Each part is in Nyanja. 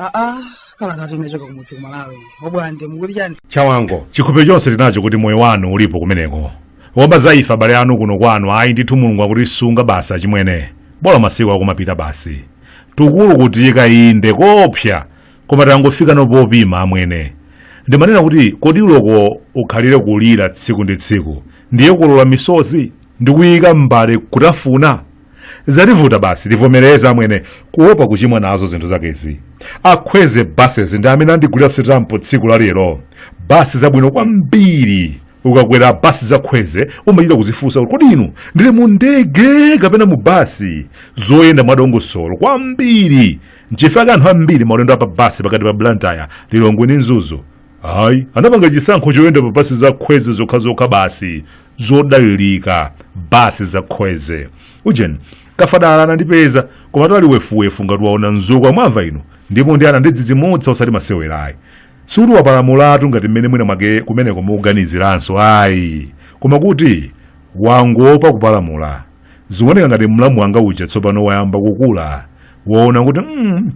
aa kalata yochoka kumudzi ku malawi obwande mukuli chani chawango chikhulupiriro chonse tinacho kuti moyo wanu ulipo kumeneko womva za ife abale anu kuno kwanu ayi ndithu mulungu akutisunga basi achimwene bola masiku akumapita basi tukulu kutiyika inde kopya koma tangofika nopopima amwene ndimanena kuti kodi uloko ukhalire kulira tsiku ndi tsiku ndiye kulola misozi ndi kuyika m'mbale kutafuna zativuta basi tivomereza amwene kuopa kuchimwa nazo zinthu zakezi akhweze buses ndi amene andigulira sitampo tsiku la lero basi zabwino kwambiri ukakwera basi zakhweze umachita kuzifunsa kuti kodi inu ndili mu ndege kapena mu basi zoyenda mwadongosolo kwambiri nchifukwa chake anthu ambiri maulendo apa basi pakati pa blantyre lilongwe ndi mzuzu ayi anapanga chisankho choyenda pa basi za khweze zokhazokha basi zodalilika basi za khweze ujeni kafadala anandipeza koma tali wefuwefu ngati waona mzukwa mwamva inu ndipo ndi anandidzidzimutsa osati masewerayi sikuti wapalamulatu ngati mmene mwina mwake kumeneko mukuganiziranso ayi koma kuti wangopa kupalamula Zikuoneka ngati mlamu wanga uja tsopano wayamba kukula. Waona kuti mm,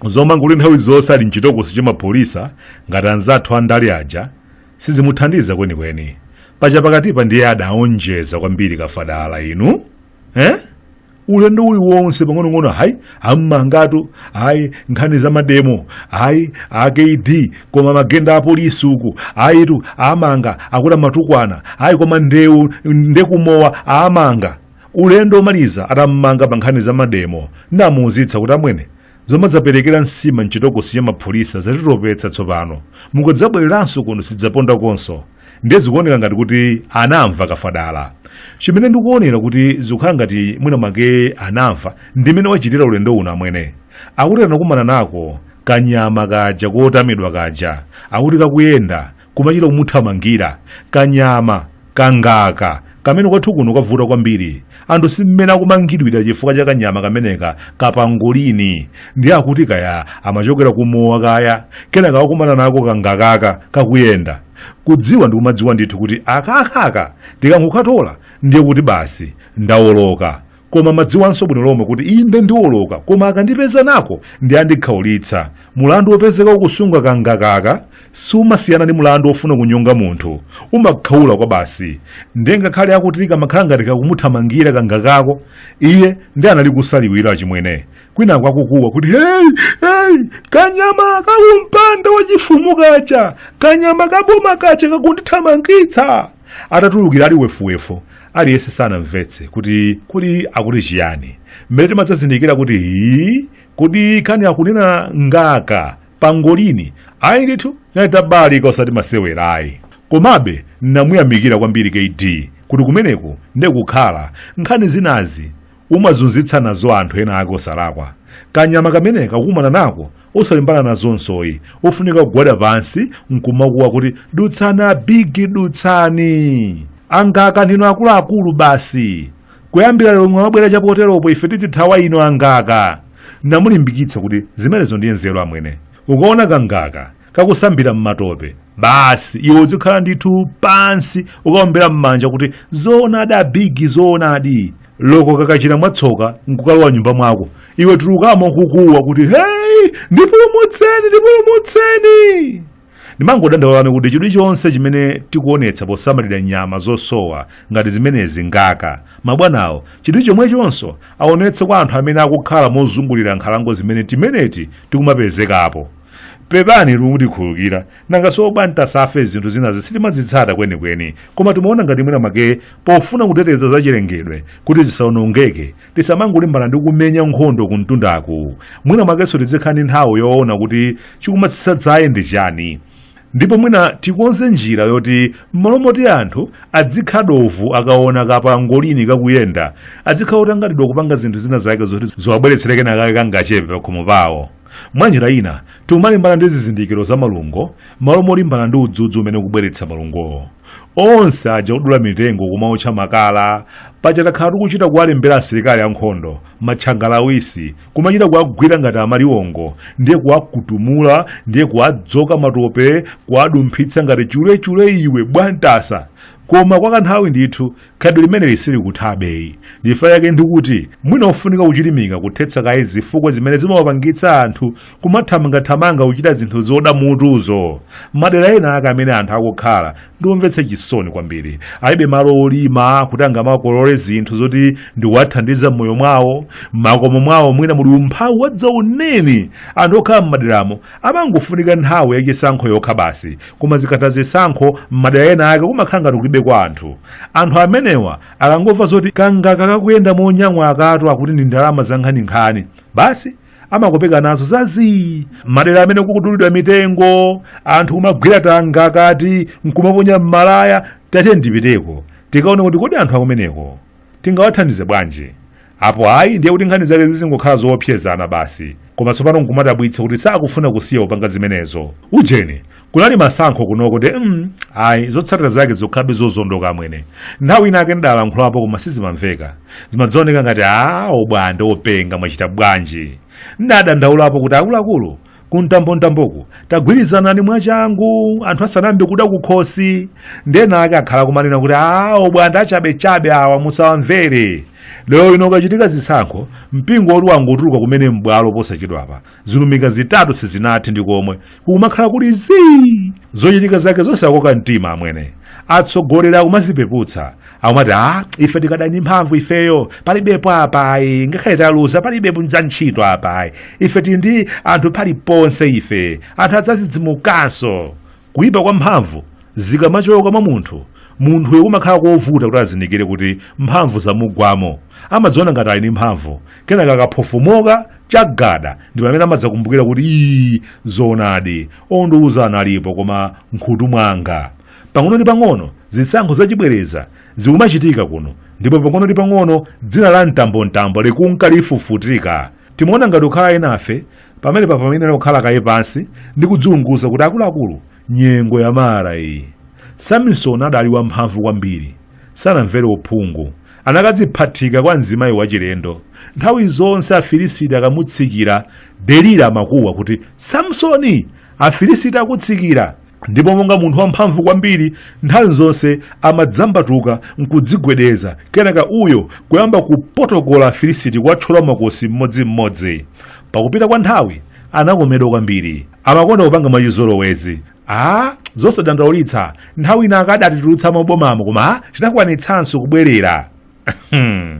zomanga kuti nthawi zonse ali mchitokosi cha mapholisa ngati anzathu andale aja sizimuthandiza kwenikweni. Paja pakatipa ndiye adaonjeza kwambiri kafadala inu. Eh? Ulendo uliwonse pang'onong'ono hayi ammangatu ayi nkhani za mademo ayi akd koma magenda apolisi uku ayitu amanga akuti amatukwana ayi koma ndewu ndekumowa amanga ulendo omaliza atammanga pa nkhani za mademo namuuzitsa kuti amwene zomadzaperekera nsima mchitokosi cha mapholisa zatitopetsa tsopano mukudzabwereranso kuno sidzaponda konso ndiye zikuoneka ngati kuti anamva kafadala chimene ndikuonera kuti zikukhala ngati mwina mwake anamva ndimene wachitira ulendo uno amwene akuti anakumana nako kanyama kaja kotamidwa kaja akuti kakuyenda kumachita kumuthamangira kanyama kangaka kamene kwathu kuno kavuta kwambiri anthu si mmene akumangidwira chifukwa cha kanyama kameneka kapangolini ndiye akuti kaya amachokera kumowa kaya kenaka wakumana nako kangakaka kakuyenda kudziwa ndikumadziwa ndithu kuti akakaka ndikangokatola ndiye kuti basi ndawoloka koma amadziwanso bwino lomwe kuti inde ndiwoloka koma akandipeza nako ndi andikhaulitsa mulandu wopezeka ukusunga kangakaka sumasiyana ndi mlandu wofuna kunyonga munthu umakhaula kwabasi ndiye ngakhale akuti kamakhala ngati kakumuthamangira kangakako iye ndi anali kusa liwiro achimwene kwinaku akukuwa kuti hey, hey, kanyama kakumpanda wachifumu kaja kanyama kaboma kaja kakundithamangitsa atatulukira ali wefuwefu aliyense sanamvetse kuti kodi akuti chiyani mmene timadzazindikira kuti hii kodi kani akunena ngaka pangolini ayi ndithu tinali tabalalika osati masewera ayi komabe namuyamikira kwambiri kd kuti kumeneku nde kukhala nkhani zinazi umazunzitsa nazo anthu ena ake osalakwa kanyama kameneka kukumana nako osalimbana nazonso ayi ofunika kugwada pansi nkumakuwa kuti dutsani abigi dutsani angaka ndinu akuluakulu basi kuyambira lero mwabwera chapoteropo ife tidzithawa inu angaka namulimbikitsa kuti zimenezo ndiye nzeru amwene ukaona kangaka kakusambira m'matope basi iwe udzikhala ndithu pansi ukuombera m'manja kuti zoonadi abigi zoonadi loko kakachita mwatsoka nkukalowa m'nyumba mwako iwe tulukamo ukukuwa kuti hei ndipulumutseni ndipulumutseni ndimangodandaulani kuti chidwi chonse chimene tikuonetsa posamalira nyama zosowa ngati zimenezi ngaka mabwanawo chidwi chomwechonso aonetse kwa anthu amene akukhala mozungulira nkhalango zimene timeneti tikumapezekapo pepanitu mutikhululukira nanga si obwantasafe zinthu zinazi sitimazitsata kwenikweni koma timaona ngati mwina mwake pofuna kuteteza zachilengedwe kuti zisaonongeke tisamangolimbana ndi kumenya nkhondo kumtundaku mwina mwakenso tizikhala ndi nthawi yoona kuti chikumatsitsa dzaye ndi chani ndipo mwina tikonze njira yoti m'malo moti anthu adzikha dovu akaona kapangolini kakuyenda adzikhala otanganidwa kupanga zinthu zina zake zoti ziwabweretsere kenakake kangachepe pakhomo pawo mwa njira ina tikumalimbana ndi zizindikiro za malungo m'malo molimbana ndi udzudzu umene ukubweretsa malungowo onse aja odula mitengo kumaotcha makala paja takhala tikuchita kuwalembera asilikali ankhondo matchangala awisi kumachita kuwagwira ngati amaliwongo ndiye kuwakutumula ndiye kuwadzoka matope kuwadumphitsa ngati chulechule iwe bwantasa koma kwa kanthawi ndithu khalidwe limeneli silikuthabeyi ndifa yake ndikuti mwina ofunika kuchilimika kuthetsa kaye zifukwa zimene zimawapangitsa anthu kumathamangathamanga kuchita zinthu zoda mutuzo madera ena ake amene anthu akukhala ndi omvetsa chisoni kwambiri alibe malo olima kuti angamakolole zinthu zoti ndikuwathandiza m'moyo mwawo m'makomo mwawo mwina muli umphawi wadzaoneni anthu okhala m'maderamo amangofunika nthawi yachisankho yokha basi koma zikatha zisankho m'madera ena ake kumakhala ngati kulibe kwa anthu anthu amenewa akangomva zoti kangaka kakuyenda monyang'wa akatu akuti ndi ndalama zankhaninkhani basi amakopeka nazo zazii madera amene kukudulidwa mitengo anthu kumagwira tangakati nkumaponya m'malaya tati ndipiteko tikaone kuti kodi anthu akumeneko Tingawathandize bwanji? Apo ayi ndiye kuti nkhani zake zizingokhala zoopsezana basi. Koma tsopano nkumadabwitsa kuti sakufuna kusiya kupanga zimenezo. Ujeni, kunali masankho kunoko de mm, ayi zotsatira zake zokhalabe zozondoka amwene. Nthawi ina ake ndalankhulapo koma sizimamveka. Zimadzaoneka ngati a Bwande openga mwachita bwanji. Ndadandaulapo kuti akuluakulu kumtambomtamboku tagwirizanani mwachangu anthu asanayambe kuda kukhosi ndena ake akhala kumanena kuti a Bwande achabechabe awa musawamvere lero ino kukachitika zisankho mpingo woti wangotuluka kumene m'bwalo posachedwapa zilumika zitatu sizinathe ndi komwe kukumakhala kuli zii zochitika zake zosakoka mtima amwene atsogoleri akumazipeputsa akumati a ife tikadali ndi mphamvu ifeyo palibepo apayi ngakhale taluza palibepo za ntchito apayi ife tili ndi anthu paliponse ife anthu adzazidzimukanso kuyipa kwa mphamvu zikamachoka mwa munthu munthuyo kumakhala kovuta kuti azindikire kuti mphamvu zamugwamo amadziona ngati ali ndi mphamvu kenaka akaphofomoka chagada ndi pamene amadzakumbukira kuti ii zoonadi ondiuza analipo koma nkhutu mwanga Pang'ono ndi pang'ono zisankho zachibwereza zikumachitika kuno ndipo pang'ono ndi pang'ono dzina la mtambomtambo likunka lifufutika. Timaona ngati kukhala enafe pamenepa pamayenera kukhala kaye pansi ndi kudziunguza kuti akuluakulu, nyengo ya mara iyi. Samisoni adali wamphamvu kwambiri. Sanamvere uphungu. Anakadziphatika kwa mzimayi wachilendo. Nthawi zonse Afilisiti akamutsikira, Delila amakuwa kuti, Samisoni! Afilisiti akutsikira! ndipo monga munthu wamphamvu kwambiri nthawi zonse amadzambatuka nkudzigwedeza kenaka uyo kuyamba kupotokola afilisiti kuwathyola makosi mmodzimmodzi pakupita kwa nthawi anakomedwa kwambiri amakonda kupanga mwachizolowezi a zosadandaulitsa nthawi ina akadatitulutsa m' mabomamo koma a, tinakwanitsanso kubwerera Hmm.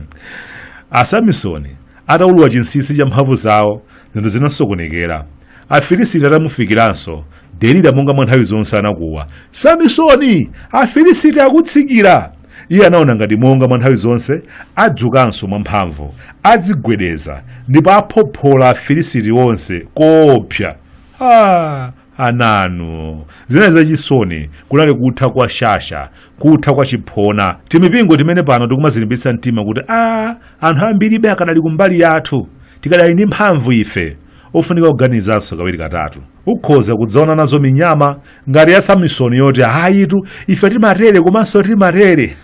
asamisoni ataulula chinsinsi cha mphamvu zawo zinthu zinasokonekera afilisiti atamufikiranso delila monga mwa nthawi zonse anakuwa samisoni afilisiti akutsikira iye anaona ngati monga mwa nthawi zonse adzukanso mwamphamvu adzigwedeza ndipo aphophola afilisiti onse koopsa ah, ananu zinali zachisoni kunali kutha kwa shasha kutha kwa chiphona timipingo timene pano tikumazilimbitsa mtima kuti a anthu ambiribe akadali kumbali yathu tikadali ndi mphamvu ife ofunika kuganizanso kawiri katatu ukhoza kudzaona nazo minyama ngati ya samisoni yoti ayitu ife timatere komanso timatere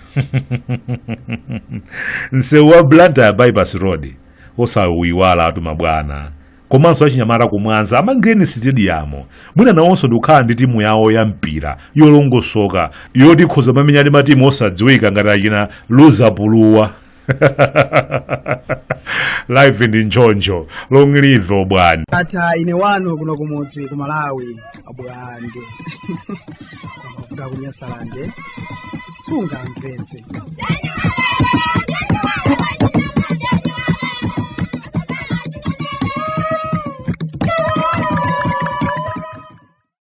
msewu wa blantyre bypass road osauyiwalatu mabwana komanso achinyamata ku mwanza amangireni sitediyamu mwina nawonso ndikukhala ndi timu yawo ya mpira yolongosoka yoti ikhoza mamenya ndi matimu osadziwika ngati achina luzapuluwa live ndi njonjo long live obwande ndatha ine wanu kuno kumudzi ku malawi abulande kuvuga kunyasalande sungamvetse